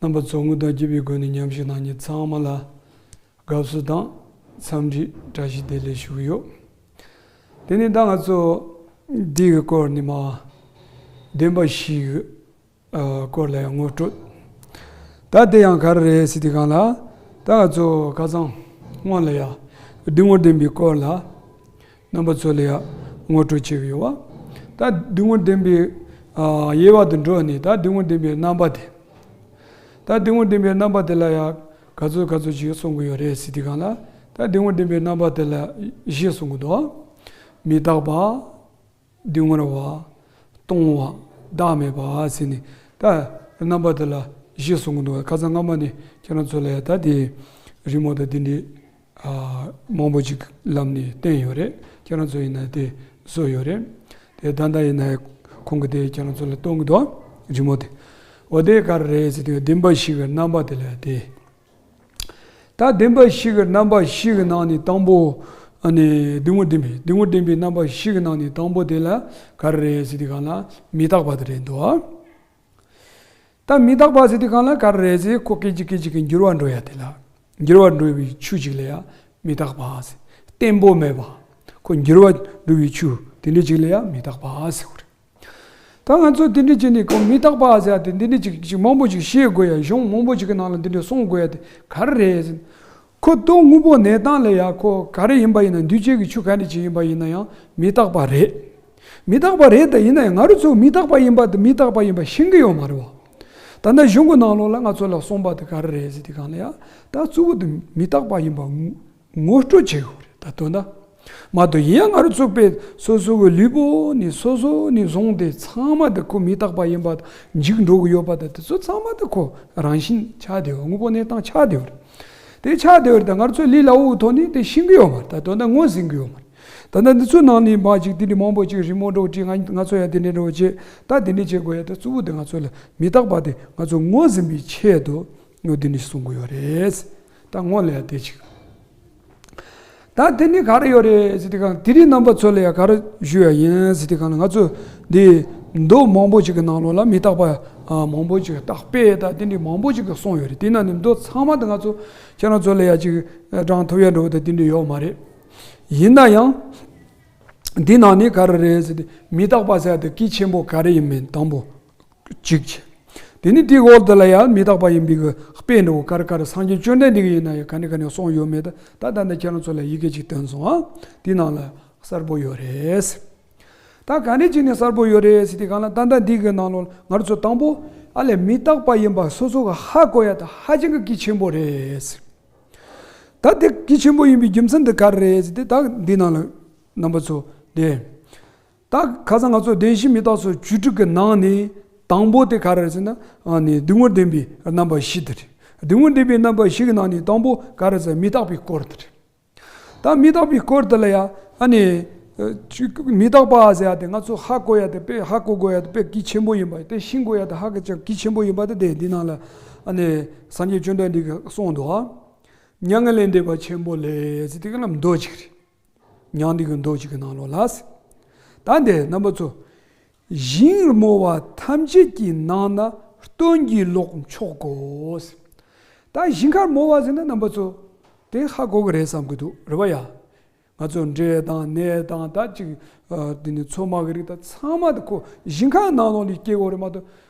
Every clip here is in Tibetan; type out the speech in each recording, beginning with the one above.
རྣམ་པ་ཚོགས་དངོས་དང་བརྒྱུད་པའི་སྒོ་ནས་ཉམས་ཞིབ་གནང་རྒྱུ་ཚང་མ་ལ་དགའ་བསུ་དང་འཚམས་འདྲི་བཀྲ་ཤིས་བདེ་ལེགས་ཞུ་གི་ཡོད། དེ་ནས་ད་ང་ཚོ་འདིའི་སྐོར་ནས་མ་བདེན་པ་ཞིག་གི་སྐོར་ལ་ཡང་ངོ་སྤྲོད་ད་དེ་ཡང་ག་རེ་རེད་ཟེར་དུས་གང་ལ་ད་ང་ཚོ་ཁ་ཚང་སྔོན་ལ་ཡང་སྡུག་བསྔལ་བདེན་པའི་སྐོར་ལ་རྣམ་པ་ཚོ་ལ་ཡང་ངོ་སྤྲོད་བྱས་ཡོད། ད་སྡུག་བསྔལ་ལྡན་པའི་དབྱེ་བ་དུ་འགྲོ་ནས་ད་སྡུག་བསྔལ་ལྡན་པའི་རྣམ་པ་དེ། ད་སྡུག་བསྔལ་ལྡན་པའི་རྣམ་པ་དེ་ལ་ཡང་ག་ཚོད་ག་ཚོད་ཅིག་གསུང་གི་ཡོད་རེད་སི་ཏི་གང་ལ་ད་སྡུག་བསྔལ་ལྡན་པའི་རྣམ་པ་དེ་ལ་བཞི་གསུང་གི་འདུག་མི་རྟག་པ། སྡུག་བསྔལ་བ། སྟོང་བ། བདག་མེད་པ་ཟེར་ནས་ད་རྣམ་པ་དེ་ལ་བཞི་གསུང་གི་འདུག་ཁ་སང་སྔ་མ་ནས་ཁྱེད་རང་ཚོ་ལ་ཡང་ད་དེ་རི་མོ་དང་དེ་འདྲའི། མང་པོ་ཅིག་ལབ་ནས་བསྟན་ཡོད་རེད་ཁྱེད་རང་ཚོ་ཡིན་ན་དེ་བཟོ་ཡོད་རེད་དེ་ད་ལྟ་ཡིན་ན་ཁོང་གི་དེ་ཁྱེད་རང་ཚོ་ལ་གཏོང་གི་འདུག་རི་མོ་དེ་འོ་དེ་ག་རེ་རེད་ཟེར་དུས་བདེན་པ་ཞིག་གི་རྣམ་པ་དེ་ལ་དེ་ད་བདེན་པ་ཞིག་གི་རྣམ་པ་ཞིག་གི་ནང་ནས་དང་པོ་ཨ་ནི་བདེན་དངོས་བདེན་པའི་བདེན་དངོས་བདེན་པའི་རྣམ་པ་ཞིག་གི་ནང་ནས་དང་པོ་དེ་ལ་ག་རེ་རེད་ཟེར་དུས་གང་ལ་མི་རྟག་པ་དེ་རེད་འདུག། ད་མི་རྟག་པ་ཟེར་དུས་གང་ལ་གར་རེད་ཟེར་ཁོ་སྐད་ཅིག་སྐད་ཅིག་གིས་འགྱུར་བ་འགྲོ་ཡ་དེ་ལ་འགྱུར་བ་འགྲོ་བའི་ཆུ་ཅིག་ལ་ཡ་མི་རྟག་པ་ཟེར་བརྟན་པོ་མེད་པ་ཁོ་འགྱུར་བ་འགྲོ་བའི་ཆུ་དེ་འདྲི་ཅིག་ལ་ཡ་མི་རྟག་པ་ཟེར་གོ་རེད་ད་ང་ཚོ་དེ་འདྲི་བྱེད་ནི་ཁོ་མི་རྟག་པ་ཟེར་ཡ་དེ་འདི་འདྲི་ཅིག་ཅིག་མང་པོ་ཅིག་བཤད་དགོས་ཡ་གཞུང་མང་པོ་ཅིག་གི་ནང་ལ་འདི་འདྲི་གསུང་དགོས་ཡ་དེ་གར་རེད་ཟེར་ཁོ་སྟོང་དངོས་པོ་གནས་སྟངས་ལས་ཡག་ཁོ་ག་རེ་ཡིན་པ་ཡིན་ན་འདུས་བྱས་ཀྱི་ཆོས་ག་འདྲ་ཅིག་ཡིན་པ་ཡིན་ན་ཡང་མི་རྟག་པ་རེད། མི་རྟག་པ་རེད་ད་ཡིན་ན་ཡང་ང་རོ་ཚོ་མི་རྟག་པ་ཡིན་པ་དང་མི་རྟག་པ་ཡིན་པ་ཤེས་གི་ཡོད་མ་རེད་བ། ད་ལྟ་གཞུང་གི་ནང་ལོགས་ལ་ང་ཚོ་ལ་གསུངས་པ་དེ་ག་རེ་རེད་ཟེར་དེ་གང་ལ་ཡང་ད་གཙོ་བོ་དེ་མི་རྟག་པ་ཡིན་པ་ངོ་སྤྲོད་བྱེད་དགོས་རེད་ད་དོན་ད། མ་དོ་ཡིན་ཡང་སྔར་བཙུགས་པའི་སོ་སོ་གི་ལུས་པོ་ནི་སོ་སོ་ནས་བཟུང་སྟེ་ཚང་མ་དེ་ཁོ་མི་རྟག་པ་ཡིན་པ་དང་འཇིག་འགྲོ་གི་ཡོད་པ་དང་དེ་ཚོ་ཚང་མ་དེ་ཁོ་རང་བཞིན་ཆགས་བདེ་བ་དངོས་པོ་གནས་སྟངས་ཆགས་བདེ་བ་རེད། དེ་ཆགས་བདེ་བ་རེད་ད་སྔར་ཚོའི་ལི་ལ་འུ་ཐོག་ནས་དེ་ཤིང་གི་ཡོད་མ་རེད་ད་དོན་དང་ངོས་ཟིན་གི་ཡོད་མ་རེད། ད་ལྟ་འདི་ཚོའི་ནང་ནས་མ་ཅིག་དེ་འདྲའི་མང་པོ་ཅིག་རི་མོ་འགྲོ་དྲིས་ང་ང་ཚོ་ཡང་དེ་འདྲའི་འགྲོ་བ་བྱེད་ད་དེ་འདྲའི་བྱེད་དགོས་ཡ་ད་གཙོ་བོ་དེ་ང་ཚོ་ལ་མི་རྟག་པ་དེ་ང་ཚོ་ངོས་ཟིན་པའི་ཆེད་དུ་སྨྱོ་དེ་ནི་གསུང་གི་ཡོད་རེད། ད་སྔོན་ལས་དེ་ཅིག། ད་དེ་ནི་ག་རེ་ཡོད་རེད། དེ་གང་དེ་རིགས་རྣམ་པ་ཚོ་ལ་ཡང་ག་རེ་ཞུས་ཡ་ཡིན། དེ་གང་ང་ཚོས་འདི་མདོ་མང་པོ་ཅིག་གི་ནང་ལོགས་ལ་མི་རྟག་པ་མང་པོ་ཅིག་རྟག་དཔེ་དང་དེ་འདྲས་མང་པོ་ཅིག་གསུངས་ཡོད་རེད་དེ་ནང་ནས་མདོ་ཚང་མ་དེ་ང་ཚོ་ཁྱེད་རང་ཚོ་ལ་ཡང་ཅིག་བགྲང་ཐུབ་ཡ་འགྲོ་དེ་དེ་འདྲས་ཡོད་མ་རེད། ཡིན་ན་ཡང། འདི་ནང་ནས་ག་རེ་རེད། མི་རྟག་པ་ཟེར་ཡ་དེ་གལ་ཆེན་པོ་ག་རེ་ཡིན་མིན་དང་པོ། ཅིག། དེ་ནི་དེའི་འོག་དེ་ལ་ཡང་མི་རྟག་པ་ཡིན་པས་ཀྱི་དཔེ་འདི་འོ་ཀར་ཀར་སངས་རྒྱས་བཅོན་ལྡན་འདི་ཀྱི་ཡིན་ན་ཡང་ག་ནས་ག་ནས་སོང་ཡོད་མེད་ད་ད་ནས་ཁྱེད་རང་ཚོ་ལ་ཡི་གེ་ཅིག་སྟོན་སོང་ཨ། དེའི་ནང་ལ་གསར་པོ་ཡོད་རེད། ད་ག་ནས་ཅིག་ནས་གསར་པོ་ཡོད་རེད་དེ་གང་ལ་ད་ད་འདི་གི་ནང་ལོ་ངར་ཚོ་དང་པོ་ཨ་ལས་མི་རྟག་པ་ཡིན་པ་སོ་སོ་ག་ཧ་གོ་ཡ་ད་ཧ་ཅང་གི་གི་ཆེན་པོ་རེད། ད་དེ་གི་ཆེན་པོ་ཡིན་པའི་རྒྱུ་མཚན་དེ་ག་རེད་དེ་ད་འདི་ནང་ལ་རྣམ་པ་ཚོ་དེ། རྟགས་ཁ་ཚ་ང་ཚོ་བདེན་བཞི་མི་རྟག་ཚོ་བཅུ་དྲུག་གི་ནང་ནས་དང་པོ་དེ་ག་རེ་རེད་ཟེར་ན་སྡུག་བསྔལ་བདེན་པའི་རྣམ་པ་བཞི་དེ་རེད། སྡུག་བསྔལ་བདེན་པའི་རྣམ་པ་བཞི་གི་ནང་ནས་དང་པོ་ག་རེ་ཟེར་མི་རྟག་པའི་སྐོར་དེ་རེད། ད་མི་རྟག་པའི་སྐོར་དེ་ལ་ཡ་ཨ་ནི། མི་རྟག་པ་ཟེར་ཡ་དེ་ང་ཚོ་ཧ་གོ་ཡ་དེ་དཔེ་ཧ་གོ་དགོས་ཡ་དེ་དཔེ་གལ་ཆེན་པོ་ཡིན་པ་དེ་ཤིང་གོ་ཡ་དེ་ཧ་གལ་ཆེན་པོ་ཡིན་པ་དེ་དེ་འདི་ནང་ལ་ཨ་ནི་སངས་རྒྱས་བཅོན་ཐབས་འདི་ག་གསུངས་འདུག་ཨ། མྱ་ངན་ལས་འདས་པ་ཆེན་པོ་ལས་ཟེར་དེ་ག་ལ་མདོ་གཅིག་རེད། མྱང་འདས་ཀྱི་མདོ་གཅིག་གི་ནང་ལོགས་ལ། ད་འདས་རྣམ་པ་ཚོ། ཞིང་རྨོ་བ་ཐམས་ཅད་ཀྱི་ནང་ན་སྟོན་གྱི་ལོག་མཆོག་གོ། ད་ཞིང་ཁར་རྨོ་བ་ཟེར་ན་རྣམ་པ་ཚོ། དེ་ཧ་གོ་གི་རེད་བསམ་གྱི་འདུག་རེད་བ་ཡ། ང་ཚོ་འདྲེ་དང་ནད་དང་ད་ཅིག་འདི་ནི་མཚོ་དམག་གི་རིགས་དང་ཚང་མ་དེ་ཁོ་ཞིང་ཁ་ནང་ལོགས་ལས་སྐྱེ་གོ་རེད་མ་གཏོགས།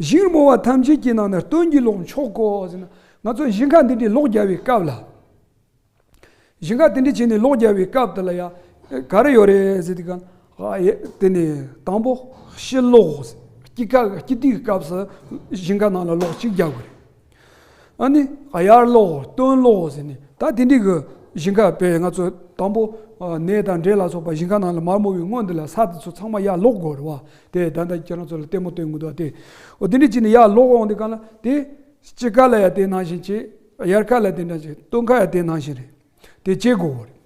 བཞིན་རྨོ་བ་ཐམས་ཅད་ཀྱི་ནང་ན་སྟོན་གྱི་ལོངས་ཕྱོགས་གོ། ང་ཚོ་བཞིན་ཁ་འདི་འདྲའི་ལོག་རྒྱག་བའི་སྐབས་ལ། བཞིན་ཁ་དེ་འདྲ་བྱས་ནས་ལོག་རྒྱག་བའི་སྐབས་དེ་ལ་ཡང་ག་རེ་ཡོད་རེད་ཟེར་དུས་ཀྱང། དེ་ནས་དང་པོ་ཤི་ལོག། སྐྱིད་སྐྱིད་སྡུག་གི་སྐབས་སུ་བཞིན་ཁ་ནང་ལ་ལོག་གཅིག་རྒྱག་དགོས་རེད། ཨ་ནི་ཨ་ཡར་ལོག་གོ་སྟོན་ལོག་གོ་ཟེར་ནས་ད་དེ་འདྲི་གི་ཞིང་ཁ་པས་ང་ཚོ་དང་པོ་ནས་དང་འབྲས་ལ་སོགས་པ་ཞིང་ཁ་ནང་ལ་མར་མོ་བའི་སྔོན་དེ་ལ་ས་དེ་ཚོ་ཚང་མ་ཡར་ལོག་དགོས་རེད་བ་དེ་ད་ནི་ཁྱེད་རང་ཚོ་ལ་ལྟད་མོ་སྟོན་གི་འདུག་བ་དེ་འོ་དེ་འདྲི་བྱས་ནས་ཡར་ལོག་འོང་དེ་གང་ལ་དེ་སྤྱི་ཁ་ལ་ཡང་དེ་ནང་བཞིན་བྱས་ཨ་ཡར་ཁ་ལ་དེ་འདྲ་བྱས་སྟོན་ཁ་ཡང་དེ་ནང་བཞིན་རེད། དེ་བྱེད་དགོས་བ་རེད།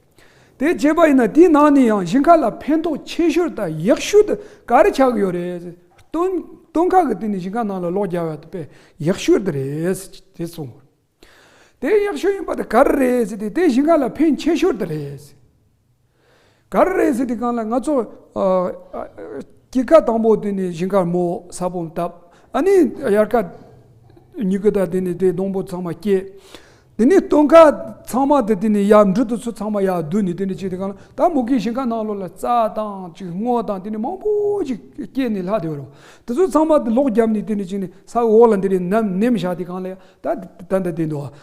དེ་བྱེད་པ་ཡིན་ན་དེའི་ནང་ནས་ཡང་ཞིང་ཁ་ལ་ཕན་ཐོགས་ཆེ་ཤོས་དང་ཡག་ཤོས་དུ་ག་རེ་ཆགས་ཀྱི་ཡོད་རེད། སྟོན་སྟོན་ཁ་གི་སྟེང་ནས་ཞིང་ཁ་ནང་ལ་ལོག་རྒྱག་ཡག་དུ་པའི་ཡག་ཤོས་དེ་རེད་དེ་གསུངས་བ་རེད། དེ་ཡག་ཤོས་ཡིན་པ་དེ་ག་རེ་རེད་ཟེར་ཏེ་དེ་ཞིང་ཁ་ལ་ཕན་ཆེ་ཤོས་དེ་རེད། ག་རེ་རེད་ཟེར་དེ་གང་ལ་ང་ཚོ་སྐྱིད་ཁ་དང་པོ་དེ་ནས་བཞིན་ཁར་མོ་ས་བོན་བཏབ་ཨ་ནི་དབྱར་ཁ་ཉི་ཁུ་དང་དེ་ནས་དེ་སྡོང་པོ་ཚང་མ་བསྐྱེད་དེ་ནས་སྟོན་ཁ་ཚང་མ་དེ་དེ་ནས་ཡར་འབྲུ་དེ་ཚོ་ཚང་མ་ཡར་བསྡུ་ནས་དེ་ནས་བྱས་དེ་གང་ལ་ད་མུ་གེ་བཞིན་ཁ་ནང་ལོགས་ལ་རྩ་དང་ཅིག་སྔོ་དང་དེ་ནས་མང་པོ་ཅིག་བསྐྱེད་ནས་ལྷག་དེ་རུ་དེ་ཚོ་ཚང་མ་ལོགས་བརྒྱབ་ནས་དེ་ནས་བྱས་ནས་ས་འོག་ལ་འདི་རེ་ནམ་ནེམ་བཞག་དེ་གང་ལ་ད་ད་ད་དེ་འདུག་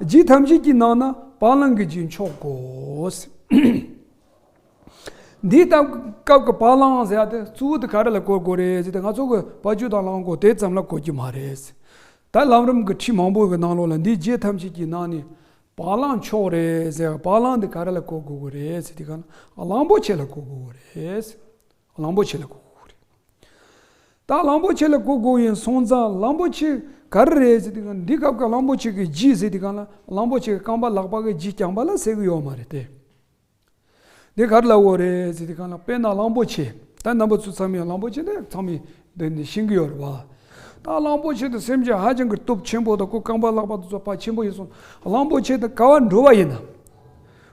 རྗེས་ཐམས་ཅད་ཀྱི་ནང་ན་བ་ལང་གི་རྗེས་མཆོག་གོ། འདི་ལྟ་སྐབས་ཀྱི་བ་ལང་ཟེར་ཡ་དེ་གཙོ་བོ་དེ་ག་རེ་ལ་གོ་དགོས་རེད་ཟེར་ཏེ་ང་ཚོ་གི་བ་བཅུ་དང་ལང་གོ་དེ་ཙམ་ལ་གོ་གི་མ་རེད། ད་ལམ་རིམ་གྱི་ཁྲིད་མང་པོ་གི་ནང་ལོགས་ལ་འདི་རྗེས་ཐམས་ཅད་ཀྱི་ནང་ནས་བ་ལང་མཆོག་རེད་ཟེར་བ་ལང་འདི་ག་རེ་ལ་གོ་དགོས་གོ་རེད་ཟེར་ཏེ་ག་ན་བ་ལང་པོ་ཆེ་ལ་གོ་དགོས་གོ་རེད། གླང་པོ་ཆེ་ལ་ཀོ་ཀོ་རེད། ད་གླང་པོ་ཆེ་ལ་ཀོ་ཀོ་ཡིན་སོང་ཙང་གླང་པོ་ཆེ་ག་རེ་རེད་ཟེར་དུས་གང་འདི་སྐབས་ཀྱི་གླང་པོ་ཆེ་གི་ལྗིད་ཟེར་དུས་གང་ལ་གླང་པོ་ཆེ་གི་རྐང་པ་ལག་པ་གི་ལྗིད་རྐྱང་པ་ལ་ཟེར་གི་ཡོད་མ་རེད་དེ། འདི་ག་རེ་ལ་བོ་རེད་ཟེར་དུས་གང་ལ་དཔེར་ན་གླང་པོ་ཆེ་ད་རྣམ་པ་ཚོ་ཚང་མས་གླང་པོ་ཆེ་འདི་ཚང་མས་འདི་འདི་ཤེས་གི་ཡོད་རེད་བ། ད་གླང་པོ་ཆེ་དང་སེམས་ཅན་ཧ་ཅང་གི་སྟོབས་ཆེན་པོ་དང་ཁོའི་རྐང་པ་ལག་པ་དེ་ཚོ་བ་ཆེན་པོ་ཡིན་སོང་གླང་པོ་ཆེ་དང་ཀ་བ་འགྲོ་བ་ཡིན་ན།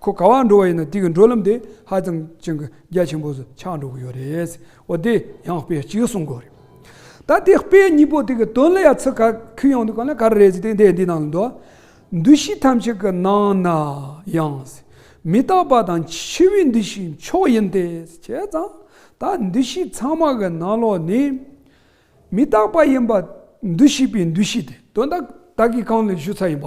ཁོ་ག་བ་འགྲོ་བ་ཡིན་ན་དེ་གི་འགྲོ་ལམ་དེ་ཧ་ཅང་ཅང་གི་རྒྱ་ཆེན་པོ་སུ་ཆགས་འགྲོ་གི་ཡོད་རེད། འོ་དེ་ཡང་དཔེ་གཅིག་གསུང་གི་རེད། ད་དེ་དཔེ་གཉིས་པོ་དེ་གི་དོན་ལ་ཡ་ཚི་ག་ཁུ་ཡང་དུ་ག་ན་ག་རེ་རེད་ཟེ་དེ་འདི་ནང་ལ་འདུག་འདུ་ཤེས་ཐམས་ཅད་གི་ནང་ན་ཡང་ཟེ་མི་རྟག་པ་དང་འཆི་བའི་འདུ་ཤེས་མཆོག་ཡིན་ཏེ་བྱས་ཙང་ད་འདུ་ཤེས་ཚང་མ་གི་ནང་ལོག་ནི་མི་རྟག་པ་ཡིན་པ་འདུ་ཤེས་པའི་འདུ་ཤེས་དེ་དོན་དག་གི་གང་ལ་ཞུ་ཚ་ཡིན་པ་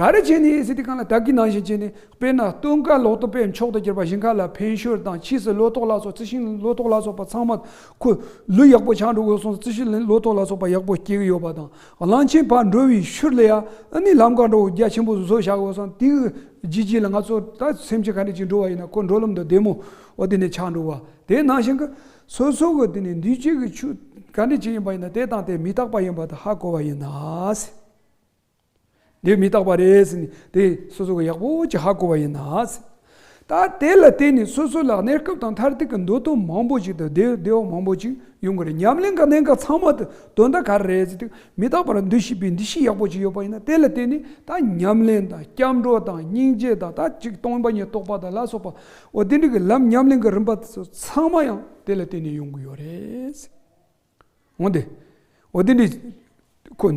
ག་རེ་བྱས་ནས་ཨེ་སི་ཏི་ཁང་ལ་དག་གིས་ནང་བཞིན་བྱས་ནས་དཔེར་ན་སྟོན་ཀ་ལོག་ཏུ་པས་མཆོག་ཏུ་གྱུར་པ་བཞིན་ག་ལ་ཕན་ཤོད་དང་ཕྱིས་སུ་ལོ་ཏོག་ལ་སོགས་རྩི་ཤིང་ལོ་ཏོག་ལ་སོགས་པ་ཚང་མ་ཁོ་ལུས་ཡག་པོ་ཆགས་འགྲོ་དགོས་གསུངས་སོ་རྩི་ཤིང་ལོ་ཏོག་ལ་སོགས་པ་ཡག་པོ་སྐྱེ་གི་ཡོད་པ་དང་གླང་ཆེན་བར་འགྲོ་བའི་ཤུར་ལས་ཡ་ཨི་ནི་ལམ་གང་འགྲོ་འོ་རྒྱ་ཆེན་པོ་བཟོ་བཞག་ཡོད་སོང་དེའི་རྗེས་རྗེས་ལ་ང་ཚོ་ད་སེམས་ཅན་ག་འདྲ་ཅིག་འགྲོ་བ་ཡིན་ན་ཁོ་འགྲོ་ལམ་དུ་བདེ་མོ་འོ་དེ་ནས་ཆགས་འགྲོ་བ་དེ་ནང་བཞིན་གྱི་སོ་སོ་གི་དེ་ནས་འདུས་བྱས་ཀྱི་ཆོས་ག་འདྲ་ཅིག་ཡིན་པ་ཡིན་ན་དེ་དང་དེ་མི་རྟག་པ་ཡིན་པ་དང་ཧ་གོ་བ་ཡིན་ན། འདིར་མི་རྟག་པ་རེད། དེ་སོ་སོ་གི་ཡག་པོ་ཅི་ཧ་གོ་བ་ཡིན། ད་དེ་ལ་བརྟེན་ནས་སོ་སོ་ལ་གནས་སྐབས་དང་མཐར་ཐུག་གི་མདོ་དོན་མང་པོ་ཞིག་དང་བདེ་བ་མང་པོ་ཞིག་ཡོང་གི་རེད་ཉམས་ལེན་ག་གནས་ག་ཚང་མ་དུ་དོན་ད་ག་རེ་རེད་ཟེར་དུས་མི་རྟག་པ་ལ་འདུ་ཤེས་པའི་འདུ་ཤེས་ཡག་པོ་ཅིག་ཡོད་པ་ཡིན་དེ་ལ་བརྟེན་ནས་ད་ཉམས་ལེན་དང་སྐྱབས་འགྲོ་དང་སྙིང་རྗེ་དང་ད་ཅིག་སྟོང་པ་ཉིད་རྟོགས་པ་དང་ལ་སོགས་པ་འོ་དེ་འདྲ་གི་ལམ་ཉམས་ལེན་གི་རིམ་པ་ཚང་མ་ཡང་དེ་ལ་བརྟེན་ནས་ཡོང་གི་ཡོད་རེད། འོན་ཏེ། འོ་དེ་འདྲའི། ཁོ།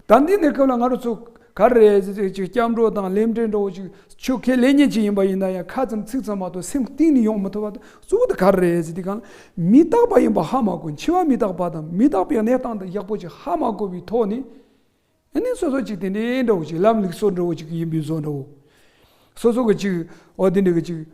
ད་འདི་ནས་སྐབས་ལ་ང་རོ་ཚོ། ག་རེ། སྐྱབས་འགྲོ་དང་ལེམ་བྲེ་འདྲ་བོ་ཅིག་ཆོས་ཁས་ལེན་ཉེན་ཅིག་ཡིན་པ་ཡིན་ན་ཡང་ཁ་ཙམ་ཚིག་ཙམ་མ་གཏོགས་སེམས་གཏིང་ནས་ཡོང་མི་ཐུབ་པ་དང་གཙོ་བོ་དེ་ག་རེ། འདི་གང། མི་རྟག་པ་ཡིན་པ་ཧ་མ་གོ་འཆི་བ་མི་རྟག་པ་དང་མི་རྟག་པའི་གནས་སྟངས་དང་ཡག་པོ་ཅིག་ཧ་མ་གོ་བའི་ཐོག་ནས། ཨ་ནི་སོ་སོ་ཅིག་དེ་འདྲའི་འདྲ་བོ་ཅིག་ལམ་ལུགས་སོགས་འདྲ་བོ་ཅིག་ཡིན་པའི་བཟོ་འདྲ་བོ། སོ་སོ་གི་ཅིག་འོ་དེ་འདྲ་གི་ཅིག།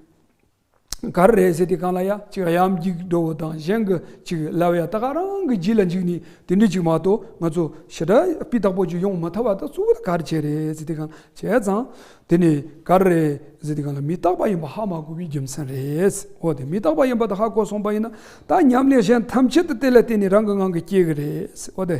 ག་རེ་རེད་ཟེར་དེ་གང་ལ་ཡ་གཅིག་གཡམ་རྒྱུག་འགྲོ་བ་དང་གཞན་གི་གཅིག་ལ་ཡ་ད་ག་རང་གི་རྗེས་ལ་འཇུག་ནས་དེ་འདྲས་ཅིག་མ་གཏོགས་ང་ཚོ་ཞི་དྲག་སྤི་དག་པོ་ཅིག་ཡོང་མི་ཐབས་བ་ད་གཙོ་བོ་ད་ག་རེ་བྱས་རེད་ཟེར་དེ་གང་ལ་བྱས་ཙང་དེ་ནས་ག་རེ་རེད་ཟེར་དེ་གང་ལ་མི་རྟག་པ་ཡིན་པ་ཧ་མ་གོ་བའི་རྒྱུ་མཚན་རེད་འོ་དེ་མི་རྟག་པ་ཡིན་པ་ད་ཧ་གོ་སོང་པ་ཡིན་ན་ད་ཉམས་ལེན་གཞན་ཐམས་ཅད་དེ་ལ་བརྟེན་ནས་རང་གི་ངང་གིས་སྐྱེ་གི་རེད་འོ་དེ།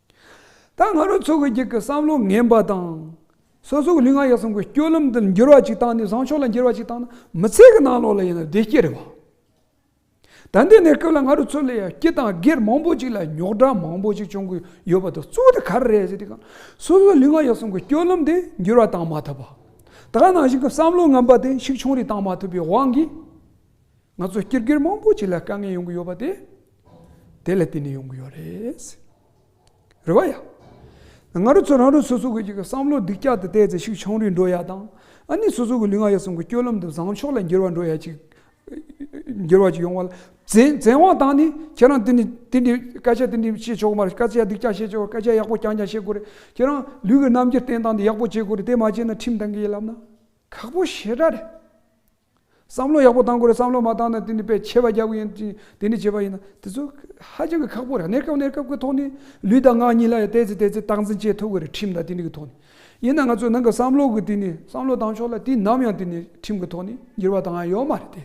ད་ང་རོ་ཚོ་གི་གྱི་གི་བསམ་བློ་ངན་པ་དང། སོ་སོ་གི་ལུས་ངག་ཡིད་གསུམ་གི་སྐྱོ་ལམ་དུ་འགྱུར་བ་ཅིག་བཏང་ནས་བཟང་ཕྱོགས་ལ་འགྱུར་བ་ཅིག་བཏང་ན་མི་ཚེ་གི་ནང་ལོགས་ལ་ཡིན་ན་བདེ་སྐྱིད་རེད་བ། ད་འདི་གནས་སྐབས་ལ་ང་རོ་ཚོ་ལ་ཡ་སྐྱིད་དང་སྒེར་མང་པོ་ཅིག་ལ་ཉོག་དྲ་མང་པོ་ཅིག་བྱུང་གི་ཡོད་པ་དང་གཙོ་དེ་ག་རེ་རེད་ཟེར་དེ་གང་སོ་སོ་ལུས་ངག་ཡིད་གསུམ་གི་སྐྱོ་ལམ་དེ་འགྱུར་བ་བཏང་མ་ཐུབ་པ། ད་ག་ནང་བཞིན་གི་བསམ་བློ་ངན་པ་དེ་ཤུགས་ཆུང་རེ་བཏང་མ་ཐུབ་པའི་དབང་གིས། ང་ཚོ་སྐྱེར་སྒེར་མང་པོ་ཞིག་ལ་དཀའ་ངལ་ཡོང་གི་ཡོད་པ་དེ་དེ་ལ་བརྟེན་ནས་ཡོང་གི་ཡོད་རེད། རེད་བ་ཡ། ང་རོ་ཚོ་རང་རོ་སོ་སོ་གི་བསམ་བློ་སྡིག་ཅག་དེ་བལྟས་ཚེ་ཤུགས་ཆང་རུལ་འགྲོ་ཡ་དང། ཨ་ནི་སོ་སོ་གི་ལུས་ངག་ཡིད་གསུམ་གི་སྐྱོ་ལམ་དུ་བཟང་ཕྱོགས་ལ་འགྱུར་བ་འགྲོ་ཡ་ཅིག་འགྱུར་བ་ཅིག་ཡོང་བ་ལ་བཙན་བཙན་དབང་དང་ནི་ཁྱེད་རང་དེ་ནི་དེ་འདི་སྐད་ཆ་དེ་འདི་བཤད་ཆོག་གི་མ་རེད་སྐད་ཆ་སྡིག་ཅག་བཤད་ཆོག་སྐད་ཆ་ཡག་པོ་རྐྱང་རྐྱང་བཤད་དགོས་རེད་ཁྱེད་རང་ལུས་ཀྱི་རྣམ་འགྱུར་བསྟན་སྟངས་འདི་ཡག་པོ་བྱེད་དགོས་རེད་དེ་མ་བྱས་ན་ཁྲིམས་གཏང་གི་ཡིད་ལབ་ན་ཁག་པོ་ཞེ་དྲག་རེད། བསམ་བློ་ཡག་པོ་བཏང་དགོས་རེད་བསམ་བློ་མ་བཏང་ན་དེ་ནི་དཔེ་ཆེ་བ་རྒྱབ་ཀྱི་ཡིན་ཅིང་དེ་ནི་བྱས་པ་ཡིན་ན་དེ་ཚོ་ཧ་ཅང་གི་ཁག་པོ་རེད་གནས་སྐབས་གནས་སྐབས་ཀྱི་ཐོག་ནས་ལུས་དང་ངག་གཉིས་ལ་ཡང་བལྟས་ཚེ་བལྟས་ཚེ་སྟངས་འཛིན་བྱེད་ཐུབ་ཀྱི་རེད་ཁྲིམས་དང་དེ་ནི་གི་ཐོག་ནས་ཡིན་ན་ང་ཚོས་ནང་གི་བསམ་བློ་གི་དེ་ནི་བསམ་བློ་བཏང་ཕྱོགས་ལ་དུས་ནམ་ཡང་དེ་ནི་ཁྲིམས་གི་ཐོག་ནས་འགྱུར་བ་བཏང་ཡ་ཡོད་མ་རེད་དེ།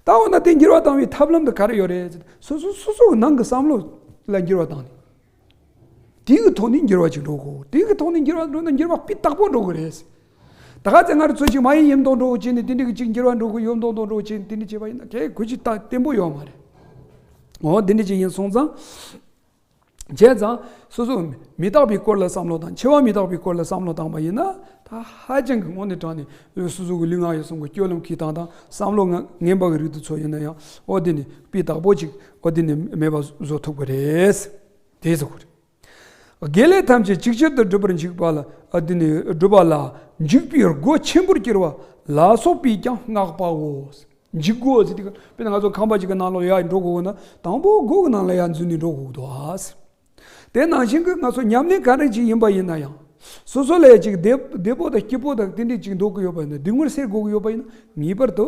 ད་འོ་ན་དེ་འགྱུར་བ་བཏང་བའི་ཐབས་ལམ་དུ་ག་རེ་ཡོད་རེད་ཅེ་ན་སོ་སོ་སོ་སོ་གི་ནང་གི་བསམ་བློ་ལ་འགྱུར་བ་བཏང་ནས། དེ་གི་ཐོག་ནས་འགྱུར་བ་ཅིག་འགྲོ་དགོས། དེ་གི་ཐོག་ནས་འགྱུར་བ་འགྲོ་ན་འགྱུར་བ་སྤུས་དག་པོ་འགྲོ་དགོས་རེད། ད་ག་ཚེ་ང་རང་ཚོ་ཞིག་མ་ཡིན་ཡིན་མདོག་མདོག་བྱས་ནས་དེ་འདྲའི་གི་ཅིག་འགྱུར་བ་འགྲོ་དགོས་ཡོད་མདོག་མདོག་མདོག་བྱས་ནས་དེ་འདྲ་བྱས་པ་ཡིན་ན་གལ་གོ་ཅིག་ལྟ་བརྟན་པོ་ཡོད་མ་རེད། འོ་དེ་འདྲ་ཅིག་ཡིན་སོང་ཙང། བྱས་ཙང་སོ་སོ་མི་རྟག་པའི་སྐོར་ལ་བསམ་བློ་དང་འཆི་བ་མི་རྟག་པའི་སྐོར་ལ་བསམ་བློ་བཏང་བ་ཡིན་ན་ད་ཧ་ཅང་གི་སྔོན་ནས་དྲགས་ནས་སོ་སོ་གི་ལུས་ངག་ཡིད་གསུམ་གི་སྐྱོ་ལམ་གྱི་སྟངས་དང་བསམ་བློ་ངན་པ་གི་རིགས་དུ་ཚོལ་ཡོད་ན་ཡང་འོ་དེ་ནི་སྤུས་དག་པོ་ཅིག་ཨོ་དེ་ནི་མེད་པ་བཟོ་ཐུབ་ཀྱི་རེད། དེས་ཟེར་རྒྱུ་རེད། དགེ་ལེགས་ཐམས་ཅད་ཅིག་ཆར་དུ་འགྲུབ་པར་འཇུག་པ་ལ་ཨོ་དེ་ནི་སྒྲུབ་པ་ལ་འཇུག་པའི་སྒོ་ཆེན་པོར་གྱུར་པ་ལ་སོགས་པས་ཀྱང་བསྔགས་པའོ། འཇུག་སྒོ་ཟེར་དུས་དཔེར་ན་ང་ཚོ་ཁང་པ་ཞིག་གི་ནང་ལོགས་ཡར་འགྲོ་དགོས་ན་དང་པོ་སྒོ་གི་ནང་ལ་ཡར་འཛུལ་ནས་འགྲོ་དགོས་ཀྱི་འདུག། དེ་ནང་བཞིན་གྱི་ང་ཚོ་ཉམས་ལེན་ག་རེ་ཅིག་ཡིན་པ་ཡིན་ན་ཡང། སོ་སོ་ལས་ཅིག་བདེ་པོ་དང་སྐྱིད་པོ་དང་ཏིང་ཏིང་ཅིག་འདོགས་ཀྱི་ཡོད་པ་ཡིན་ན་སྡིགས་མོར་སེལ་དགོས་ཀྱི་ཡོད་པ་ཡིན་ན་ངེས་པར་དུ།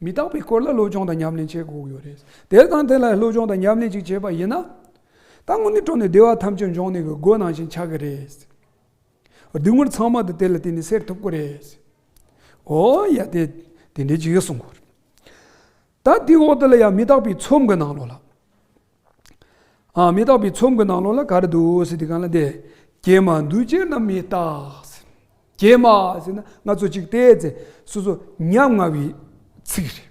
མི་རྟག་པའི་སྐོར་ལ་སློབ་སྦྱོང་དང་ཉམས་ལེན་བྱེད་དགོས་ཀྱི་ཡོད་རེད། དེར་དང་དེ་ལ་སློབ་སྦྱོང་དང་ཉམས་ལེན་ཅིག་བྱས་པ་ཡིན་ན། ད་དངོས་གནས་སྤྲོ་ནས་བདེ་བ་ཐམས་ཅད་འབྱུང་གནས་ཀྱི་སྒོ་ནང་བཞིན་ཆགས་ཀྱི་རེད། སྡིགས་མོར་ཚང་མ་དེ་དེ་ལ་བརྟེན་ནས་སེལ་ཐུབ་ཀྱི་རེད། ཨོ་ཡ་དེ་དེ་འདྲའི་ཅིག་གསུངས། ད་དེའི་འོག་ཏུ་ལ་ཡང་མི་རྟག་པའི་ཚོམས་ཀྱི་ནང་ལོགས་ལ། ཨ་མི་རྟག་པའི་ཚོམ་གྱི་ནང་ལོགས་ལ་ག་རེ་འདུག་ཟེར་དེ་གང་ལ་བལྟས། ཀྱེ་མ་འདུས་བྱས་རྣམས་མི་རྟག་ཟེར། ཀྱེ་མ་ཟེར་ན་སྔ་ཚོད་ཅིག་བལྟས་ཚེ་སོ་སོ་ཉམ་ང་བའི་ཚིག་རེད།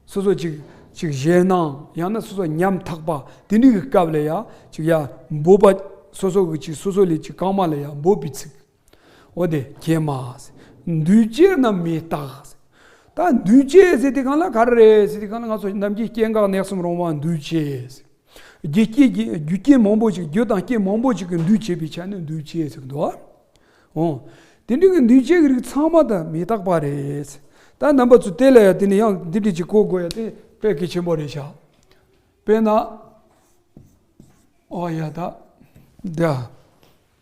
སོ་སོ་ཅིག་ཅིག་གཞན་སྣང་ཡང་ན་སོ་སོ་ཉམ་ཐག་པ་དེ་འདྲི་གི་སྐབས་ལ་ཡང་ཅིག་ཡ་འབོད་པ་སོ་སོ་གི་ཅིག་སོ་སོ་ལས་ཅིག་གང་མ་ལ་ཡ་འབོད་པའི་ཚིག། འོ་དེ་ཁྱེད་མ། འདུས་བྱས་རྣམས་མི་རྟག། ད་འདུས་བྱས་ཟེར་དེ་གང་ལ་ག་རེ་རེད་ཟེར་དེ་གང་ལ་ང་ཚོ་ནམ་མཁའི་སྐྱེ་འགག་གནས་གསུམ་རུང་བ་འདུས་བྱས། རྒྱུ་སྐྱེས་ཀྱི་རྒྱུ་རྐྱེན་མང་པོ་ཞིག་རྒྱུ་དང་རྐྱེན་མང་པོ་ཞིག་གིས་འདུས་བྱས་པའི་ཆ་ནས་འདུས་བྱས་ཟེར་གི་འདུག་ཨ། འོ། དེ་འདྲ་གི་འདུས་བྱས་ཀྱི་རིགས་ཚང་མ་དང་མི་རྟག་པ་རེད། ད་རྣམ་པ་ཚོ་དེ་ལ་ཡང་དེ་ནི་ཡང་འདི་འདྲི་གཅིག་གོ་དགོས་ཡ་དེ་དཔེ་གལ་ཆེན་པོ་རེད་ཤག། དཔེར་ན། ཨོ་ཡ་ད།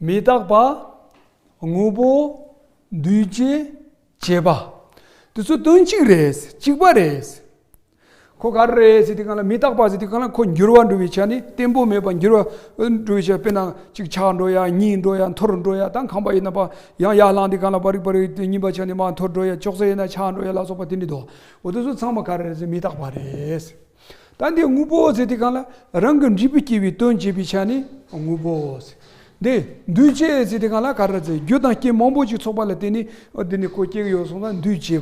མི་རྟག་པ། དངོས་པོ། འདུས་བྱས། བྱས་པ། དེ་ཚོ་དོན་གཅིག་རེད། གཅིག་པ་རེད། ཁོ་ག་རེ་རེད་ཟེར་དེ་ག་ལ་མི་རྟག་པ་ཟེར་དེ་ག་ལ་ཁོ་འགྱུར་བ་འགྲོ་བའི་ཆ་ནི་བརྟན་པོ་མེད་པ་འགྱུར་བ་འགྲོ་བའི་ཆ་དཔེར་ན་ཅིག་ཆག་འགྲོ་ཡ་གཉིས་འགྲོ་ཡ་འཐོར་འགྲོ་ཡ་ད་ཁམས་པ་ཡིན་ན་པ་ཡང་ཡར་ལངས་དེ་ག་ལ་པ་རིག་པ་རིག་དེ་གཉིས་པ་ཆ་ནི་མ་འཐོར་འགྲོ་ཡ་ཅོག་ཙེ་ཡིན་ན་ཆག་འགྲོ་ཡ་ལ་སོགས་པ་དེ་འདྲའི་དོགས་འོ་དེ་ཚོ་ཚང་མ་ག་རེ་རེད་ཟེར་མི་རྟག་པ་རེད། ད་འདིར་དངོས་པོའོ་ཟེར་དེ་གང་ལ། རང་གི་འབྲས་བུ་སྐྱེ་བའི་དོན་བྱེད་པའི་ཆ་ནས་དངོས་པོའོ། འདི་འདུས་བྱས་ཟེར་དེ་གང་ལ་ག་ར་ཟེར་རྒྱུ་དང་རྐྱེན་མང་པོ་ཞིག་ཚོགས་པ་ལ་བརྟེན་ནས་འདི་ནི་ཁོ་སྐྱེ་གི་ཡོད་གསུངས་ན་འདུས་བྱས་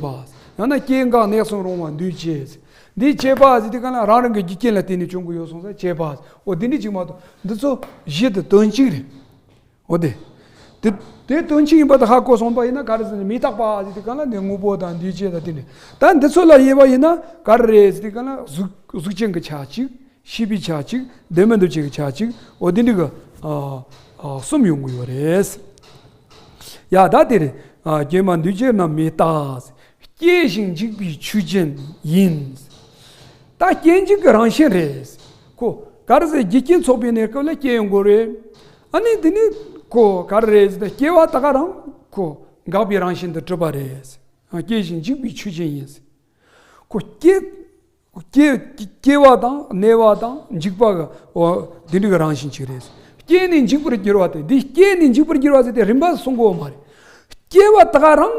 པ། ཡང་ན་སྐྱེ་འགག next hit རུང་བ་འདུས་བྱས། འདི་བྱས་པ་ཟེར་དེ་གང་ལ་རང་རང་གི་རྒྱུ་རྐྱེན་ལ་བརྟེན་ནས་བྱུང་གི་ཡོད་གསུངས་ས་བྱས་པ། འོ་འདི་འདྲའི་ཆིག་མ་དང་འདི་ཚོ་གཞི་དང་དོན་གཅིག་རེད། འོ་དེ། དེ་དེ་དོན་ཅི་ཡིན་པ་དེ་ཧ་གོ་སོང་པ་ཡིན་ན་ག་རེ་ཟེར་ནས་མི་རྟག་པ་ཟེར་དུས་ག་ལ་ནི་དངོས་པོ་དང་འདུས་བྱས་དང་དེ་ནས་ད་འདི་ཚོ་ལ་དབྱེ་བ་ཡིན་ན་ག་རེ་རེད་ཟེར་དུས་ག་ལ་གཟུགས་ཅན་གྱི་ཆ་གཅིག་ཤེས་པའི་ཆ་གཅིག་བདེན་མེད་འདུ་བྱེད་ཀྱི་ཆ་གཅིག་འོ་དེ་འདྲའི་གི་གསུམ་ཡོང་གི་ཡོད་རེད། ཡ་ད་དེ་རེད་རྒྱན་མ་འདུས་བྱས་རྣམས་མི་རྟག་ཟེར། སྐྱེ་ཞིང་འཇིག་པའི་ཆོས་ཅན་ཡིན། ད་སྐྱེ་འཇིག་གི་རང་བཞིན་རེད། གོ། ག་རེ་ཟེར་རྒྱུ་རྐྱེན་ཚོགས་པའི་གནས་སྐབས་ལ་སྐྱེ་ཡོང་དགོས་རེད། ཨ་ནི་དེ་ནི་གོ་ག་རེད་ཟེར་ན་སྐྱེ་བ་ད་ག་རང་གོ་འགགས་པའི་རང་བཞིན་དུ་གྲུབ་པ་རེད། སྐྱེ་ཞིང་འཇིག་པའི་ཆོས་ཅན་ཡིན། གོ་སྐྱེ་སྐྱེ་བ་དང་གནས་པ་དང་འཇིག་པ་གོ་འདི་འདྲ་གི་རང་བཞིན་གཅིག་རེད། སྐྱེས་ནས་འཇིག་པར་འགྱུར་བ་དེ་འདི་སྐྱེས་ནས་འཇིག་པར་འགྱུར་བ་ཟེར་ཏེ་རིམ་པ་གསུངས་གོ་མ་རེད། སྐྱེ་བ་ད་ག་རང།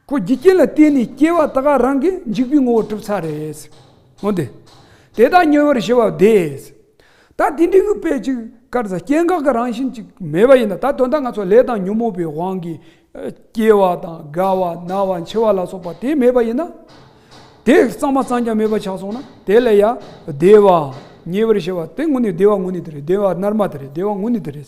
སྒོ་རྒྱུ་རྐྱེན་ལ་བརྟེན་ནས་སྐྱེ་བ་དག་རང་གི་འཇིག་པའི་ངོ་བོར་གྲུབ་ཚར་རེད། འོན་ཏེ། དེ་དག་ཉེ་བར་ཞི་བ་བདེ། ད་དེ་འདྲའི་གུས་པས་ཅིག་དཀར་ཚ་སྐྱེ་འགག་གི་རང་བཞིན་ཅིག་མེད་པ་ཡིན་ན་ད་དོན་དག་ང་ཚོ་ལས་དང་ཉོན་མོངས་པའི་དབང་གིས། སྐྱེ་བ་དང་རྒ་བ་ན་བ་འཆི་བ་ལ་སོགས་པ་དེ་མེད་པ་ཡིན་ན། དེ་གཙང་མ་གཙང་རྐྱང་མེད་པ་ཆགས་སོང་ན་དེ་ལས་ཡང་བདེ་བ། ཉེ་བར་ཞི་བ་དེ་དངོས་གནས་བདེ་བ་དངོས་གནས་དེ་རེད་བདེ་བ་རྣལ་མ་དེ་རེད་བདེ་བ་དངོས་གནས་དེ་རེད།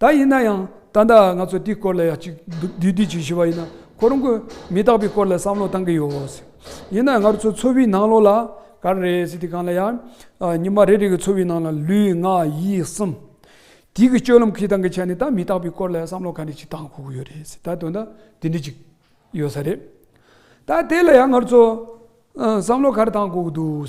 ད་ཡིན་ན་ཡང་ད་ལྟ་ང་ཚོ་དེའི་སྐོར་ལ་ཡང་ཅིག་བསྡུས་བསྡུས་ཅིག་ཞུས་པ་ཡིན་ན་ཁོ་རང་གི་མི་རྟག་པའི་སྐོར་ལ་བསམ་བློ་བཏང་གི་ཡོད། ཡིན་ན་ང་ཚོ་འཚོ་བའི་ནང་ལོགས་ལ་ག་རེ་རེད་ཟེར་དུས་གང་ལ་ཡང་ཉི་མ་རེ་རེ་གི་འཚོ་བའི་ནང་ལ་ལུས་ངག་ཡིད་གསུམ་དེ་གི་སྤྱོད་ལམ་གི་སྟངས་ཀྱི་ཆ་ནས་ད་མི་རྟག་པའི་སྐོར་ལ་ཡང་བསམ་བློ་ག་རེ་ཅིག་བཏང་ཁུག་གི་ཡོད་རེད་ཟེར་ད་དོན་དག་དེ་འདྲ་ཅིག་ཡོད་ས་རེད། ད་དེ་ལ་ཡང་ང་ཚོ་བསམ་བློ་ག་རེ་བཏང་ཁུག་གི་འདུག།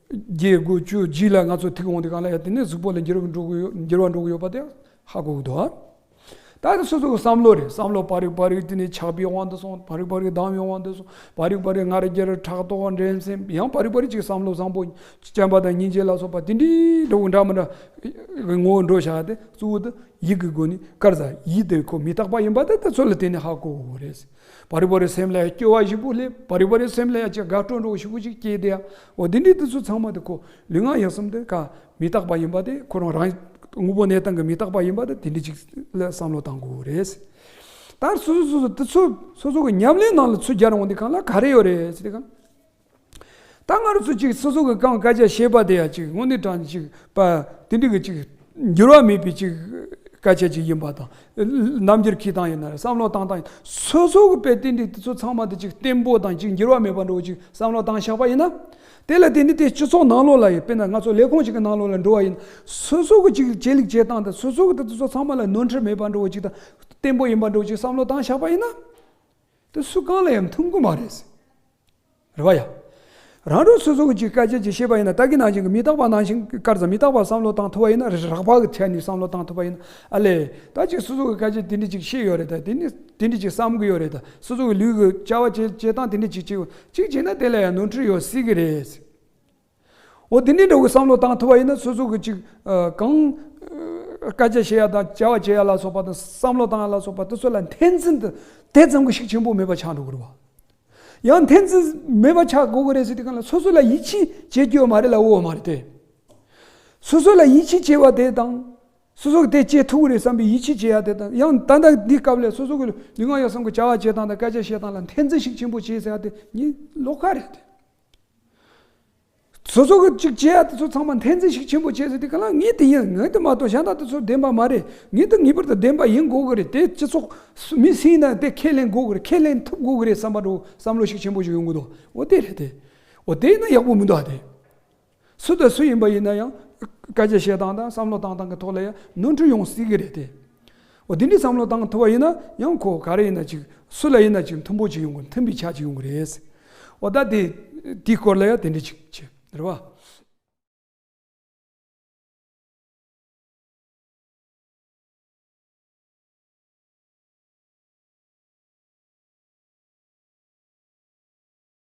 རྒྱས་དགུ་བཅུ་བཞི་ལ་ང་ཚོ་ཐིག་འོང་དེ་གང་ལ་ཡང་དེ་ནས་གཟུགས་པོ་ལ་འགྱུར་བ་འགྲོ་གི་ཡོད་པ་དེ་ཧ་གོ་གི་འདུག་ད་ནི་སོ་སོ་གི་བསམ་བློ་རེད་བསམ་བློ་བག་རིག་བག་རིག་དེ་ནི་ཆགས་པའི་དབང་དུ་སོང་བག་རིག་བག་རིག་སྡང་བའི་དབང་དུ་སོང་བག་རིག་བག་རིག་ངར་རྒྱར་ཕྲག་དོག་འགྲན་སེམས་ཡང་བག་རིག་བག་རིག་ཅིག་བསམ་བློ་བཟང་པོ་སྤྱན་པ་དང་སྙིང་རྗེ་ལ་སོགས་པ་དེ་འདྲའི་འགྲོ་འདྲ་མི་འདྲ་གི་ངོ་བོ་འགྲོ་བྱ་སྟེ་གཙོ་བོ་དེ་ཡིད་ཀྱི་སྒོ་ནས་དཀར་ཟ་ཡིད་དེ་ཁོ་མི་རྟག་པ་ཡིན་པ་དེ་ཚོ་ལ་དེ་ནི་ཧ་གོ་རེད་ཟེར། བ་རི་བ་རི་སེམས་ལ་ཡང་སྐྱོ་བ་ཞིག་པོ་ལེ་བ་རི་བ་རི་སེམས་ལ་ཡང་ཅི་དགའ་སྤྲོ་འགྲོ་བ་ཞིག་པོ་ཅིག་སྐྱེས་བསྡད་ཡ་འོ་འདི་འདྲའི་དུས་ཚོད་ཚང་མ་དེ་ཁོ་ལུས་ངག་ཡིད་གསུམ་དེ་ཀ་མི་རྟག་པ་ཡིན་པ་དེ་ཁོ་རང་རང་དངོས་པོ་གནས་སྟངས་ཀྱི་མི་རྟག་པ་ཡིན་པ་དེ་དེ་འདྲི་ཅིག་ལ་བསམ་བློ་བཏང་དགོས་བོ་རེད། ད་སོ་སོ་སོ་སོ་དེ་ཚོ་སོ་སོ་གི་ཉམས་ལེན་ནང་ལ་ཚུད་རྒྱ་རུང་བ་འདི་གང་ལ་ག་རེ་ཡོད་རེད་ཅེ་དེ་གང། ད་སྔར་སུ་གཅིག་སོ་སོ་གི་རྐང་བཀའ་རྒྱ་ཞེས་པ་དེ་ཡང་གཅིག་དངོས་གནས་དྲང་གཅིག་པ་དེ་འདྲི་གི་གཅིག་འགྱུར་བ་མེད་པའི་གཅིག་བཀའ་ཆད་ཅིག་ཡིན་པ་དང། རྣམ་འགྱུར་གྱི་སྟངས་ཡིན་ན་རེད་བསམ་བློ་བཏང་སྟངས་སོ་སོ་གི་དཔེ་དེ་འདྲི་དེ་ཚོ་ཚང་མ་དེ་གཅིག་བརྟན་པོ་དང་གཅིག་འགྱུར་བ་མེད་པ་འགྲོ་གཅིག་བསམ་བློ་བཏང་བཞག་པ་ཡིན་ན། དེ་ལ་དེ་ནི་དེ་སྤྱི་ཚོགས་ནང་ལོགས་ལ་ཡི་དཔེར་ན་ང་ཚོ་ལས་ཁུངས་གཅིག་གི་ནང་ལོགས་ལ་འགྲོ་བ་ཡིན་ན་སོ་སོ་གི་གཅིག་ཇེ་ལེགས་ཇེ་བཏང་དང་སོ་སོ་གི་དེ་ཚོ་ཚང་མ་ལ་ནོར་འཁྲུལ་མེད་པ་འགྲོ་གཅིག་དང་བརྟན་པོ་ཡིན་པ་འགྲོ་གཅིག་བསམ་བློ་བཏང་བཞག་པ་ཡིན་ན། དེ་སུ་གང་ལ་ཡང་མཐུན་གི་མ་རེད། རེ་བ་ཡ། རང་རང་སོ་སོ་གི་ཅིག་སྐད་ཅིག་ཅིག་ཤེས་པ་ཡིན་ན་ད་གི་ནང་བཞིན་གྱི་མི་རྟག་པ་ནང་བཞིན་གྱི་སྐར་ཙམ་མི་རྟག་པ་བསམ་བློ་བཏང་ཐུབ་པ་ཡིན་ན་རེད་རགས་པ་གི་ཐད་ནས་བསམ་བློ་བཏང་ཐུབ་པ་ཡིན་ན་ཨ་ལས་ད་ཅིག་སོ་སོ་གི་སྐད་ཅིག་དེ་འདྲི་ཅིག་ཤེས་ཡོད་རེད་ད་དེ་ནས་དེ་འདྲི་ཅིག་བསམ་གི་ཡོད་རེད་ད་སོ་སོ་གི་ལུས་ཀྱི་བཅའ་བ་བྱེད་བྱེད་སྟངས་དེ་འདྲི་ཅིག་ཅིག་ཅིག་བྱས་ན་དེ་ལ་ཡང་ནོར་འཁྲུལ་ཡོད་སྲིད་གི་རེད། འོ་དེ་འདྲའི་འདྲ་བོའི་བསམ་བློ་བཏང་ཐུབ་པ་ཡིན་ན་སོ་སོ་གི་ཅིག་གང་སྐད་ཆ་བཤད་ཡ་དང་བྱ་བ་བྱེད་ཡ་ལ་སོགས་པ་དང་བསམ་བློ་བཏང་ཡ་ལ་སོགས་པ་དེ་ཚོ་ལ་འཐེན་འཛིན་དེ་དེ་ཙམ་གྱི་ཤུགས་ཆེན་པོ་མེད་པ་ཆགས་འགྲོ་གི་རེད་བ། ཡང་འཐེན་འཛིན་མེད་པ་ཆགས་དགོས་ཀྱི་རེད་ཟེར་དུས་གང་ལ་སོ་སོ་ལ་ཡིད་ཆེས་བྱེད་དགོས་ཡོད་མ་རེད་ལ་འོས་མ་རེད་དེ། སོ་སོ་ལ་ཡིད་ཆེས་བྱེད་པ་དེ་དང་སོ་སོ་གི་དེ་བྱེད་ཐུབ་ཀྱི་རེད་བསམ་པའི་ཡིད་ཆེས་བྱེད་ཡ་དེ་དང་ཡང་ད་ལྟ་འདི་སྐབས་ལས་སོ་སོ་གི་ལུས་ངག་ཡིད་གསུམ་གྱི་བྱ་བ་བྱེད་སྟངས་དང་སྐད་ཆ་བཤད་སྟངས་ལ་འཐེན་འཛིན་ཞིག་ཆེན་པོ་བྱེད་ཟེར་ཡ་དེ་གཉིས་ལོག་ཁ་རེད་དེ། སོ་སོ་གཅིག་བྱས་ཡ་དེ་ཚོ་ཚང་མ་འཐེན་རྩིས་ཤིག་ཆེན་པོ་བྱས་ཟེར་དེ་ག་ལ་ངེས་དེ་ཡིན་ངེས་དེ་མ་གཏོགས་གཞན་དག་དེ་ཚོ་བདེན་པ་མ་རེད་ངེས་དེ་ངེས་པར་དུ་བདེན་པ་ཡིན་དགོས་ཀྱི་རེད་དེ་སྤྱི་ཚོགས་མི་སེམས་དང་དེ་ཁས་ལེན་དགོས་ཀྱི་རེད་ཁས་ལེན་ཐུབ་དགོས་ཀྱི་རེད་བསམ་པ་འགྲོ་བསམ་བློ་ཤུགས་ཆེན་པོ་ཞིག་ཡོང་གི་འདུག་འོ་དེ་རེད་དེ་འོ་དེ་ན་ཡག་པོ་མི་འདུག་ཨ་དེ། སུ་དང་སུ་ཡིན་པ་ཡིན་ན་ཡང་བཀའ་རྒྱ་བཤད་སྟངས་དང་བསམ་བློ་བཏང་སྟངས་ཀྱི་ཐོག་ལ་ཡང་ནོར་འཁྲུལ་ཡོང་སྲིད་ཀྱི་རེད་དེ། འོ་འདི་འདྲའི་བསམ་བློ་བཏང་ཐུབ་པ་ཡིན་ན་ཡང་ཁོ་ག་རེ་ཡིན་ན་ཅིག་སུ་ལ་ཡིན་ན་ཅིག་མཐུན་པོ་ཅིག་ཡོང་གི་མཐུན་པའི་ཆ་ཅིག་ཡོང་གི་རེད། འོ་ད་དེ་དེའི་སྐོར་ལ་ཡང་དེ་འདྲའི་ཅིག་བྱེད་རེད་བ།